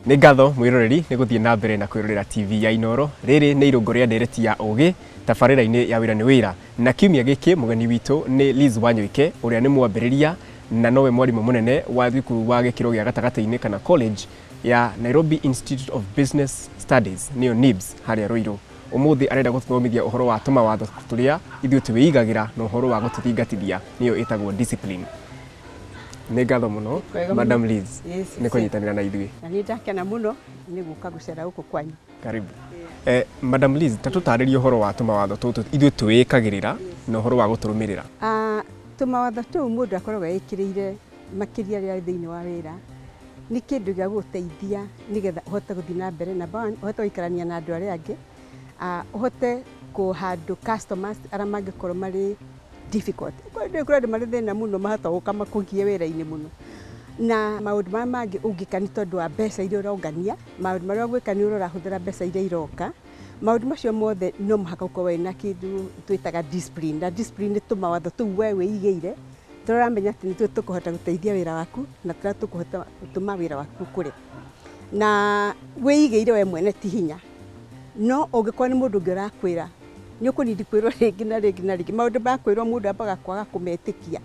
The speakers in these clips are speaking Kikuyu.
nĩ ngatho mwĩroreri nĩ gũthiĩ na mbere na kwĩrorera tv ya inoro rĩrĩ nĩ irũngo rĩa ndereti ya ũgĩ tabarĩra-inĩ ya wĩra nĩ wĩra na kiumia gĩkĩ mũgeni witũ nĩ liz wanyoike ũrĩa nĩ mwambĩrĩria na nowe mwarimũ mũnene wa thukuru wa gĩkĩro gĩa gatagatĩ-inĩ kana college ya nairobi institute of business studies nĩyo nibs harĩa rũirũ Ũmũthĩ arenda gũtũthomithia ũhoro wa tũmawatho tũrĩa ithuĩ twĩigagĩra na ũhoro wa gũtũthingatithia nĩyo ĩtagwo discipline. Nĩ ngatho mũno Madam Liz nĩ kũnyitanĩra na ithuĩ. Na nĩ ndakena mũno nĩ gũka gũcera gũkũ kwanyu. Karibu. Eh, Madam Liz, ta tũtarĩrie ũhoro wa tũmawatho tũtũ ithuĩ twĩĩkagĩrĩra na ũhoro wa gũtũrũmĩrĩra. Ah, tũmawatho tũu mũndũ akoragwo ekĩrĩire. makĩria rĩrĩa wĩ thĩinĩ wa wĩra, nĩ kĩndũ gĩa gũgũteithia nĩgetha ũhote gũthiĩ na mbere, number one, ũhote gũikarania na andũ arĩa angĩ, ũhote kũ handle customers arĩa mangĩkorwo marĩ difficult. Kwa hĩndĩ ĩyo kũrĩ andũ marĩ thĩna mũno mahota gũka makũgie wĩra-inĩ mũno. Na maũndũ marĩa mangĩ ũngĩka nĩ tondũ wa mbeca iria ũrongania, maũndũ marĩa ũgwĩka nĩ ũrarahũthĩra mbeca iria iroka, maũndũ macio mothe no mũhaka ũkorwo wĩna kĩndũ twĩtaga discipline, na discipline nĩ tũmawatho tũu we wĩigĩire. Tũramenya atĩ nĩ tũkũhota gũteithia wĩra waku na tũrĩa tũkũhota gũtũma wĩra waku ũkũre. Na wĩigĩire we mwene ti hinya, no ũngĩkorwo nĩ mũndũ ũngĩ ũrakwĩra, nĩ ũkũnindi kwĩrwo rĩngĩ na rĩngĩ na rĩngĩ. Maũndũ ma kwĩrwo mũndũ ambaga kwaga kũmetĩkia.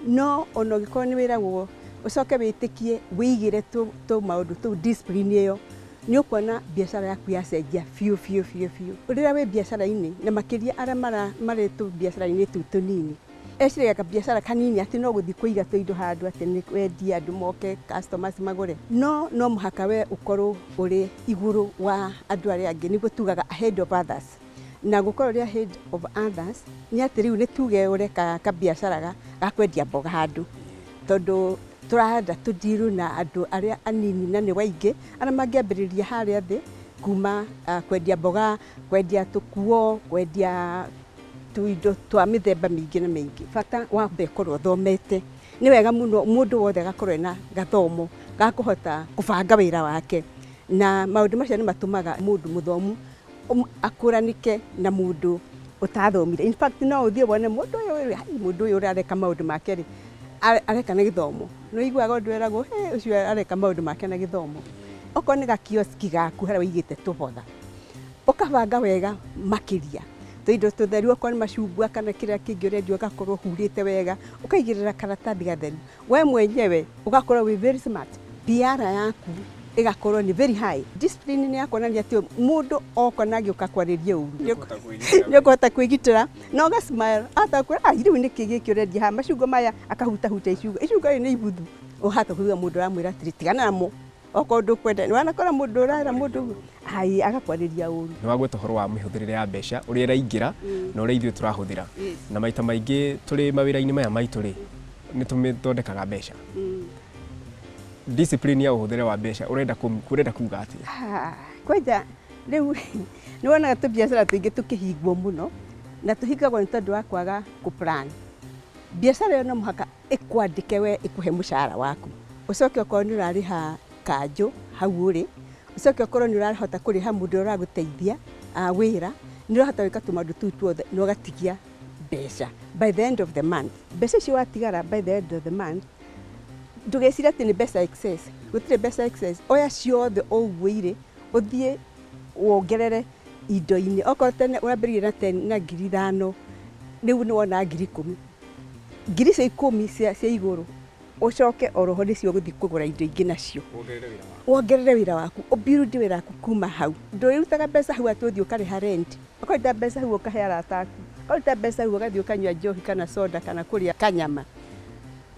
No ona ũngĩkorwo nĩ wĩragwo ũcoke wĩtĩkie wĩigĩre tũmaũndũ tũu discipline ĩyo, nĩ ũkuona biacara yaku yacenjia biũ biũ biũ biũ. Rĩrĩa wĩ biacara-inĩ na makĩria arĩa marĩ tũbiacara-inĩ tũu tũnini, Eciragia kabiacara kanini atĩ no gũthiĩ kũiga tũindo handũ atĩ nĩ kwendia andũ moke customers magũre. No no mũhaka we ũkorwo ũrĩ igũrũ wa andũ arĩa angĩ nĩguo tugaga ahead of others. Na gũkorwo ũrĩ ahead of others nĩ atĩ rĩu nĩ tuge ũreka kabiacara ga kwendia mboga handũ. Tondũ tũrenda tũ deal na andũ arĩa anini na nĩ o aingĩ arĩa mangĩambĩrĩria harĩa thĩ kuma kwendia mboga, kwendia tũkuo, kwendia... Tũindo twa mĩthemba mĩingĩ na mĩingĩ. Bata wambe ũkorwo ũthomete. Nĩ wega mũno mũndũ wothe agakorwo ena gathomo ga kũhota kũbanga wĩra wake. Na maũndũ macio nĩ matũmaga mũndũ mũthomu akũranĩke na mũndũ ũtathomire. In fact no ũthiĩ wone mũndũ ũyũ rĩ, aai mũndũ ũyũ areka maũndũ make rĩ, areka na gĩthomo. Nĩ ũiguaga ũndũ eragwo hĩ ũcio areka maũndũ make na gĩthomo. Okorwo nĩ ga kioski gaku harĩa ũigĩte tũboga. Ũkabanga wega makĩria tũindo tũtheru okorwo nĩ macungwa kana kĩrĩa kĩngĩ ũrendia ũgakorwo ũhurĩte wega, ũkaigĩrĩra karatathi gatheru. We mwenyewe ũgakorwo wĩ very smart, PR yaku ĩgakorwo nĩ very high. Discipline nĩ ya kuonania atĩ mũndũ oka na agĩũka kwarĩria ũru nĩ ũkũhota kwĩgitĩra na ũga smile ahota kwĩra ah rĩu nĩkĩ gĩkĩ ũrendia haha macungwa maya akahutahuta icungwa, icungwa rĩrĩ nĩ ibuthu ũhota kũigua mũndũ ũramwĩra atĩrĩ tigana namo Okorwo ndũkwenda, nĩwanakora mũndũ ũrera mũndũ ũguo, hai agakwarĩria ũru. Nĩ wagweta ũhoro wa mĩhũthĩrĩre ya mbeca, ũrĩa ĩraingĩra na ũrĩa ithuĩ tũrahũthĩra. Na maita maingĩ tũrĩ mawĩra-inĩ maya maitũ rĩ, nĩ tũmĩthondekaga mbeca. Discipline ya ũhũthĩre wa mbeca ũrenda ũrenda kuga atĩa? Haa, kwanja rĩu nĩ wonaga tũbiacara tũingĩ tũkĩhingwo mũno, na tũhingagwo nĩ tondũ wa kwaga kũ plan. Biacara ĩyo no mũhaka ĩkwandĩke we ĩkũhe mũcara waku, ũcoke okorwo nĩ ũrarĩha kanjũ hau ũrĩ, ũcoke okorwo nĩ ũrahota kũrĩha mũndũ ũrĩa ũragũteithia wĩra, nĩ ũrahota gwĩka tũmaũndũ tũu tuothe na ũgatigia mbeca by the end of the month. Mbeca icio watigara by the end of the month, ndũgecire atĩ nĩ mbeca excess, gũtirĩ mbeca excess, oya ciothe o ũguo irĩ, ũthiĩ wongerere indo-inĩ, okorwo tene wambĩrĩirie na ten na ngiri ithano, rĩu nĩ wona ngiri ikũmi, ngiri icio ikũmi cia cia igũrũ ũcoke oroho nĩcio ũgũthiĩ kũgũra indo ingĩ nacio wongerere wĩra waku ũbuild wĩra waku kuma hau ndũrĩrutaga mbeca hau atĩ ũthiĩ ũkarĩha rent ũkaruta mbeca hau ũkahe arata aku ũkaruta mbeca hau ũgathiĩ ũkanyua njohi kana soda kana kũrĩa kanyama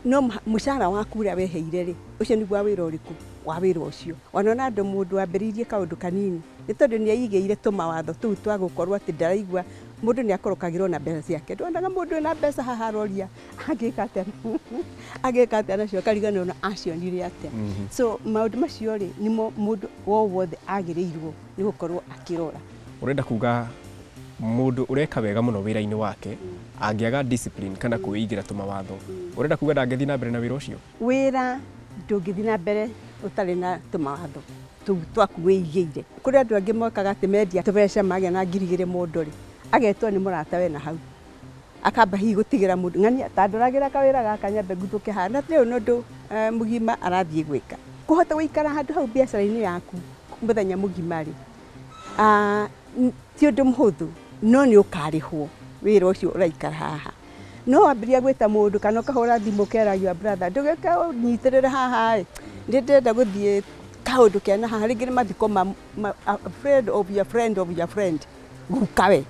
no mũha- mũcara waku ũrĩa weheire rĩ ũcio nĩguo wa wĩra ũrĩkũ wa wĩra ũcio ona ona andũ mũndũ wambĩrĩirie kaũndũ kanini nĩ tondũ nĩ aigĩire tũmawatho tũu twa gũkorwo atĩ ndaraigua Mũndũ nĩ akorokagĩrwo na mbeca ciake. Ndwonaga mũndũ ena mbeca haha aroria angĩka atĩa angĩka atĩa nacio akariganĩrwo na acionire atĩa. Mhm. So maũndũ macio rĩ nĩmo mũndũ o wothe agĩrĩirwo nĩ gũkorwo akĩrora. Ũrenda kuga mũndũ ũreka wega mũno wĩra-inĩ wake angĩaga discipline kana kwĩigĩra tũmawatho, ũrenda kuga ndangĩthiĩ na mbere na wĩra ũcio? Wĩra ndũngĩthiĩ na mbere ũtarĩ na tũmawatho tũu twaku wĩigĩire. Kũrĩ andũ angĩ mokaga atĩ mendia tũbeca magĩa na ngiri igĩrĩ mũndũ rĩ, agetwo nĩ mũrata we nahau, akamba hihi gũtigĩra mũndũ, ng'ania ta ndoragĩra kawĩra gaka nyambe nguthũke haha, na ti ũyũ nĩ ũndũ mũgima arathiĩ gwĩka. Kũhota gũikara handũ hau mbiacara-inĩ yaku mũthenya mũgima rĩ, ti ũndũ mũhũthũ, no nĩ ũkarĩhwo wĩra ũcio ũraikara haha. no wambĩrĩria gwĩta mũndũ kana ũkahũra thimũ ũkera your brother ndũgĩũke ũnyitĩrĩre haha ĩ nĩ ndĩrenda gũthiĩ kaũndũ kena haha rĩngĩ nĩ mathiko ma, ma, a friend of your friend of your friend guka we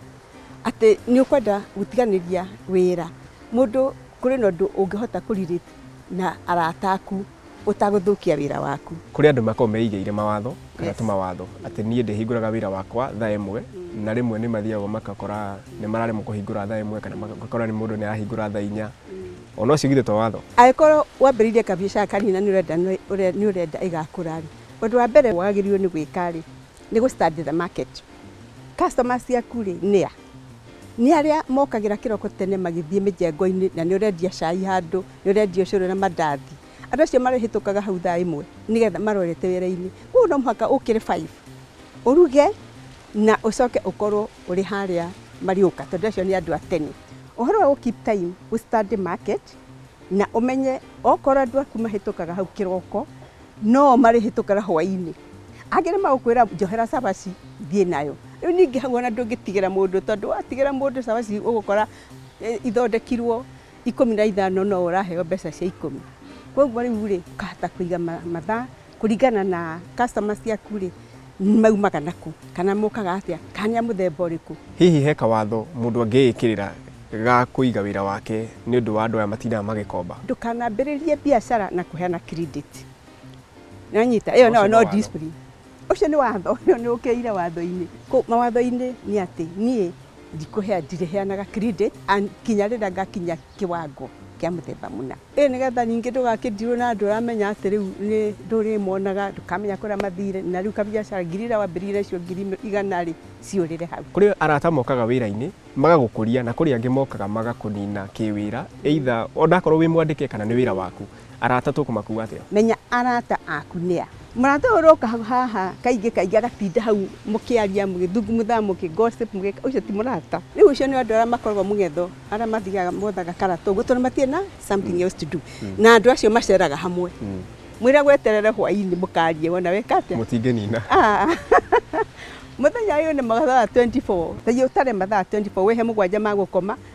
atĩ nĩ ũkwenda gũtiganĩria wĩra mũndũ kũrĩ na ũndũ ũngĩhota kũ relate na arata aku ũtagũthũkia wĩra waku. Kũrĩ andũ makoragwo meigĩire mawatho kana yes. tũmawatho atĩ niĩ ndĩhingũraga wĩra wakwa thaa ĩmwe mm. na rĩmwe nĩ mathiaga magakora nĩ mararemwo kũhingũra thaa ĩmwe kana magakora nĩ mũndũ nĩ arahingũra thaa inya mm. ona ũcio githĩ to watho angĩkorwo wambĩrĩirie kabiacara kanini na nĩ ũrenda nĩ ũrenda ĩgakũra rĩ ũndũ wa mbere wagĩrĩirwo nĩ gwĩka rĩ nĩ gũ study the market customer ciaku rĩ nĩ a nĩ arĩa mokagĩra kĩroko tene magĩthiĩ mĩjengo-inĩ na nĩ ũrendia cai handũ nĩ ũrendia ũcũrũ na mandathi. Andũ acio marĩhĩtũkaga hau thaa ĩmwe nĩ getha marorete wĩra-inĩ. Kũguo no mũhaka ũkĩre five, ũruge na ũcoke ũkorwo ũrĩ harĩa Mariũka tondũ acio nĩ andũ a tene. Ũhoro wa gũ keep time, ũ study market na ũmenye okorwo andũ aku mahĩtũkaga hau kĩroko, no o marĩhĩtũkaga hwainĩ. Angĩ nĩ magũkwĩra njohera cabaci thiĩ nayo. Rĩu ningĩ hau ona ndũngĩtigĩra mũndũ tondũ watigĩra mũndũ cabaci ũgũkora ithondekirwo ikũmi na ithano no ũraheo mbeca cia ikũmi. Koguo rĩu rĩ, ũkahota kũiga mathaa kũringana na customer ciaku rĩ, maumaga na kũ, kana mokaga atĩa, kana nĩ a mũthemba ũrĩkũ. Hihi he kawatho mũndũ angĩĩkĩrĩra ga kũiga wĩra wake nĩ ũndũ wa andũ aya matindaga magĩkomba? Ndũkanambĩrĩrie biacara na kũheana credit. Nĩ wanyita? Ĩyo nayo no discipline. Ũcio nĩ watho, ũyũ nĩ ũkĩire watho-inĩ. Kũu mawatho-inĩ nĩ atĩ niĩ ndikũhea, ndirĩheanaga credit nginya rĩrĩa ngakinyia kĩwango kĩa mũthemba mũna. Ĩĩ nĩ getha ningĩ ndũgakĩndirwo na andũ ũramenya atĩ rĩu nĩ ndũrĩmonaga, ndũkamenya kũrĩa mathire, na rĩu kabiacara ngiri irĩa wambĩrĩirie nacio ngiri igana rĩ, ciũrĩre hau. Kũrĩ arata mokaga wĩra-inĩ magagũkũria, na kũrĩ angĩ mokaga magakũnina kĩwĩra either o na akorwo wĩ mwandĩke kana nĩ wĩra waku. Arata tũkũmakuua atĩa? Menya arata aku nĩ a. Mũrata ũyũ ũroka haha kaingĩ kaingĩ agatinda hau mũkĩaria, mũgĩthugumutha, mũkĩ-gossip, mũgĩka, ũcio ti mũrata. Rĩu ũcio nĩ andũ arĩa makoragwo mũng'etho, arĩa mathiaga mothaga karata ũguo tondũ matirĩ na something else to do. Na andũ acio maceraga hamwe. Mwĩre gweterere hwaĩ-inĩ mũkarie wona weka atĩa. Mũtingĩnina. Mũthenya ũyũ nĩ mathaa twenty four, ta ũtare mathaa twenty four, wĩhe mũgwanja ma gũkoma,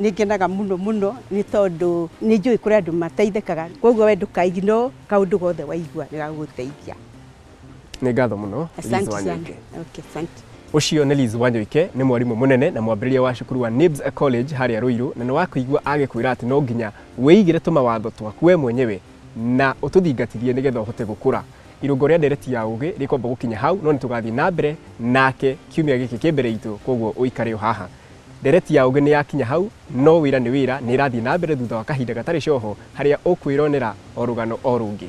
Nĩ ngenaga mũno mũno nĩ tondũ nĩ njũĩ kũrĩ andũ mateithĩkaga, kwoguo we ndũka ignore kaũndũ gothe waigua nĩ gagũgũteithia. Nĩ ngatho mũno Liz Asante sana. Wanyoike. Okay, asante. Ũcio nĩ Liz Wanyoike, nĩ mwarimũ mũnene na mwambĩrĩria wa cukuru wa NIBS College harĩa Ruiru, na nĩ wakũigua agĩkwĩra atĩ no nginya wĩigĩre tũmawatho twaku we mwenyewe na ũtũthingatithie nĩgetha ũhote gũkũra. Irũngo rĩa ndereti ya ũgĩ rĩkwamba gũkinya hau, no nĩ tũgathiĩ na mbere nake kiumia gĩkĩ kĩ mbere itũ, kwoguo ũikare o haha. Ndereti ya ũũgĩ nĩ yakinya hau, no wĩra nĩ wĩra nĩ ĩrathiĩ na mbere thutha wa kahinda gatarĩ coho, harĩa ũkwĩronera o rũgano o rũngĩ.